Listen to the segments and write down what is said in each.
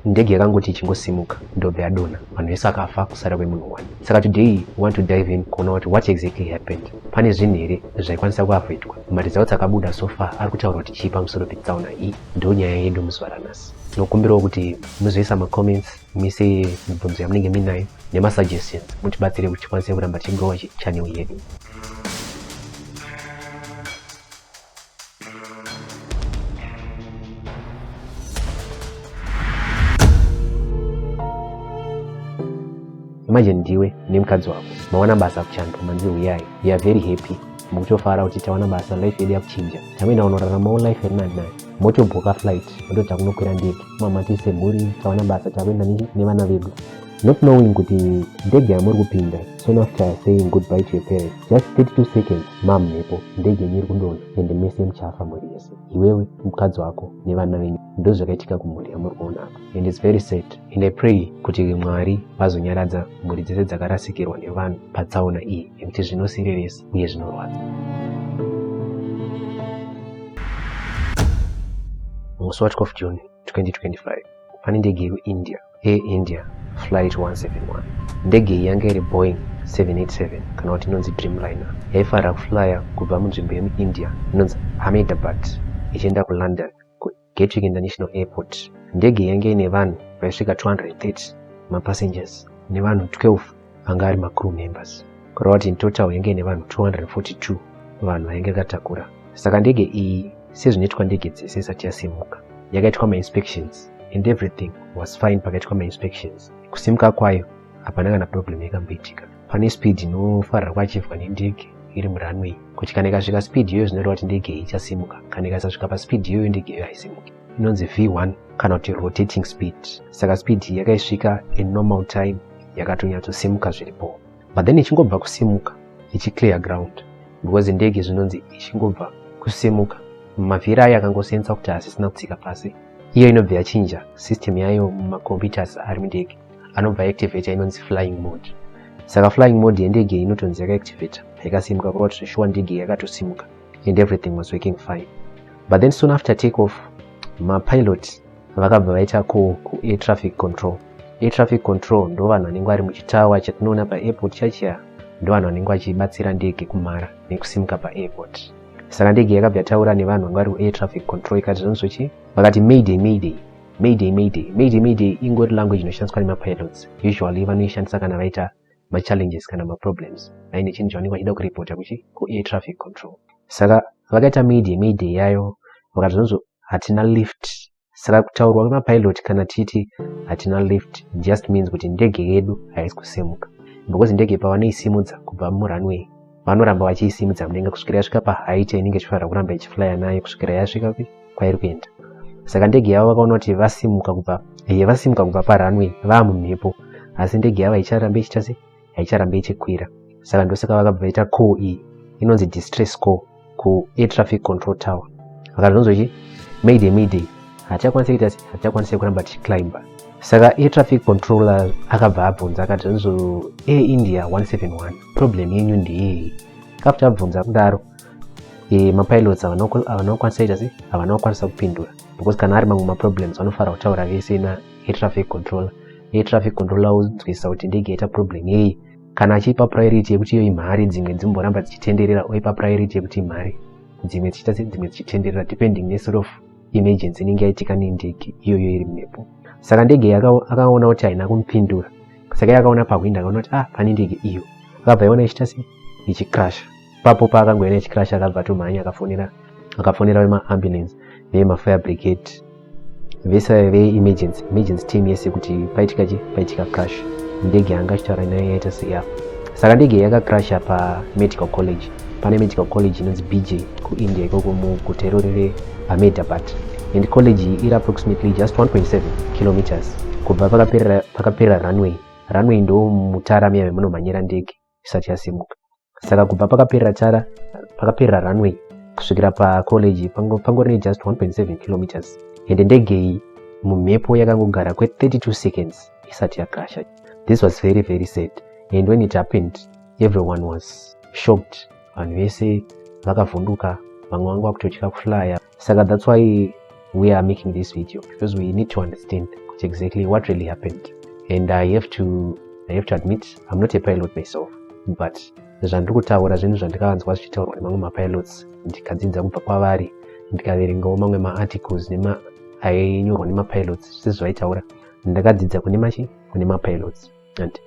ndege yakangoti ichingosimuka ndobva yadonha vanhu vese akafa kusara kwemunhu one saka today we want to dive in kuona kuti what exactly happened pane zvinhu here zvaikwanisa kuavoidwa maresults dzakabuda so far ari kutaura kuti chii pamusoro petsaona iyi ndo nyaya yedu muzuva ranhasi tinokumbirawo kuti muzoisa macomments mise mibvunzo yamunenge muinayo nemasuggestions mutibatsire kuti tikwanise kuramba tichigowa channel yedu Thank you. manje ndiwe nemukadzi wako mawana basa kuchantu manzi huyai we are very happy mukutofara kuti tawana basa life yedu yakuchinja tamenda unoraramawo life iri nani nayo motobhoka flight ndo takunokwira ndege mama tisemhuri tawana basa takuenda nevana vedu not knowing kuti ndege yamuri kupinda soon after saying goodbye to your parents just 32 seconds mam mhepo ndege yenyu iri kundona ende mese muchafa mhuri yese iwewe mukadzi wako nevana venyu ndo zvakaitika kumhuri yamuri kuona apa and its very sad and i pray kuti mwari vazonyaradza mhuri dzese dzakarasikirwa nevanhu patsaona iyi nekuti zvinosireresa uye zvinorwadza musi wa 12 june 2025 pane ndege yekuindia air india flight 171 ndege iyi yanga iri boeing 787 kana kuti inonzi dreamliner yaifanira kuflya kubva munzvimbo yemuindia inonzi hamedabad ichienda kulondon kugatwick international airport ndege yange ine vanhu vaisvika 230 mapassengers nevanhu 12 anga ari macrew members kureva kuti in total yange ine vanhu 242 vanhu vainge vakatakura saka ndege iyi sezvinoitwa ndege dzese isati yasimuka yakaitwa mainspections and everything was fine pakaitwa mainspections kusimuka kwayo hapana kana problem yakamboitika pane speed inofarira kwachivwa nendege iri muranway kuti kana ikasvika speed iyoyo zvinoreva kuti ndege iyi ichasimuka kana ikasasvika paspeed iyoyo ndege iyoyo haisimuki inonzi v1 kana kuti rotating speed saka speed iyi yakaisvika in normal time yakatonyatosimuka zviripo but then ichingobva kusimuka ichiclear ground because ndege zvinonzi ichingobva kusimuka mavhiri ayo akangosensa kuti hasisina kutsika pasi iyo inobva yachinja system yayo mumacomputers ari mundege anobva activator inonzi flying mode saka flying mode yendege inotonzi yakaactivator yakasimuka kureva kuti zveshuwa ndege yakatosimuka and everything was working fine but then soon after take off mapilot vakabva vaita call kuair traffic control air traffic control ndo vanhu vanenge vari muchitawa chatinoona paairport chachiya ndo vanhu vanenge vachibatsira ndege kumhara nekusimuka paairport saka ndege yakabva yataura nevanhu vanga vari kuair traffic control ikati zvanozvochi vakati mayday mayday mayday mayday mayday mayday ingori language inoshandiswa nemapilots usually vanoishandisa kana vaita machallenges kana maproblems aine chinhu chavanenge vachida kuripota kuchi kuair traffic control saka vakaita mayday mayday yayo vakati zvonzo hatina lift saka kutaurwa kwemapilot kana titi hatina lift just means kuti ndege yedu haisi kusemuka because ndege pavanoisimudza kubva murunway vanoramba vachiisimudza mudenga kusvikira yasvika pahaight yainenge ichifanira kuramba ichiflya nayo kusvikira yasvika kwairi kuenda saka ndege yavo vakaona kuti vasimuka kubva ye eh, vasimuka kubva parunway vaa mumhepo asi ndege yavo haicharambe ichiita se haicharambe ichikwira saka ndosaka vakabva vaita call iyi inonzi distress call kuair traffic control tower vakazonzwa chi mayday mayday hatichakwanise kuita sei hatichakwanise kuramba tichiclimber saka air traffic controller akabva abvunza akati nzo air india 171 problem yenyu ndiyei kafu tabvunza kudaro e, mapilots havana kukwanisa ita sei havana kukwanisa kupindura because kana ari mamwe maproblems vanofara kutaura vese na air traffic controller air traffic controller wonzwisisa kuti ndege yaita problem yei kana achiipa priority yekuti iyo imhari dzimwe dzimboramba dzichitenderera oipa priority yekuti imhari dzimwe dzichiita sedzimwe dzichitenderera depending nesort of emergency inenge yaitika nendege iyoyo iri mhepo saka ndege akaona kuti haina kumupindura saka yakaona pahwindo akaona kuti ah pane ndege iyo akabva yaona ichiita se ichikrasha ipapo paakangoya nechicrash akabva atomhanya akafonera akafonera vemaambulance nevemafire brigade vese vaive veemergency emergency team yese kuti paitika chi paitika crash ndege yanga achitaura nayo yaita seya saka ndege yakacrasha pamedical college pane medical college inonzi bj kuindia ikoko muguta irori reahmedabad and college iyi iri approximately just 1.7 kilometers kubva pakaperera runway runway ndo mutara miya vemunomhanyira ndege isati yasimuka saka kubva pakaperera tara pakaperera runway kusvikira pacollege pangori nejust 1.7 kilometers ende ndege iyi mumhepo yakangogara kwe32 seconds isati yakrasha this was very very sad and when it happened everyone was shocked vanhu vese vakavhunduka vamwe vanga vakutotya kuflya saka that's why we are making this video because we need to understand kuti exactly what really happened and i have to i have to admit i'm not a pilot myself but zvandiri kutaura zvinhu zvandikavanzwa zvichitaurwa nemamwe mapilots ndikadzidza kubva kwavari ndikaverengawo mamwe maarticles nema ainyorwa nemapilots sezvaitaura ndakadzidza kune machi kune mapilots and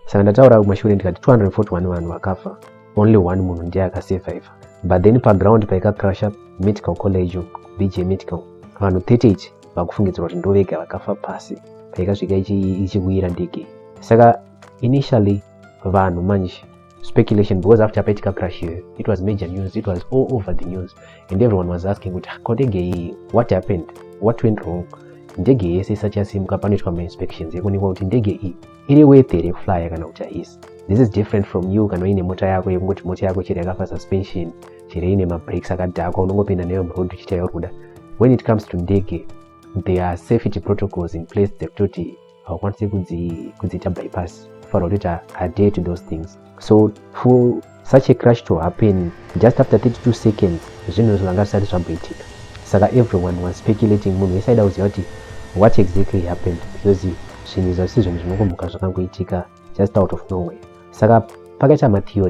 saka ndataura kumashure ndikati 241 vanhu vakafa only one munhu ndiye akasurviva but then paground paikacrusha medical college bj medical vanhu 38 vakufungidzirwa kuti ndovega vakafa pasi paikasvika ichikuyira ndege saka initially vanhu manje speculation because after paitika crash iyoyo it was major news it was all over the news and everyone was asking kuti ko ndege iyi what happened what went wrong ndege yese isati yasimuka panoitwa mainspections yekuonekwa kuti ndege iyi iri worth here kuflya kana kuti haisi this is different from you kana uine mota yako yekungoti mota yako chero yakafa suspension chero ine mabreaks akadhakwa unongopinda neyo muroad uchiita yauri kuda when it comes to ndege there are safety protocols in place dzekutoti haukwanisi kudziita bypass kufanira kutoita adhere to those things so for such a crash to happen just after 32 seconds zvinhu izvo zvanga zvisati zvamboitika saka everyone was speculating munhu wese aida kuziva kuti what exactly happened because zvinhu izvo zvisi zvinhu zvinongomuka zvakangoitika just out of nowhere saka pakaita matheory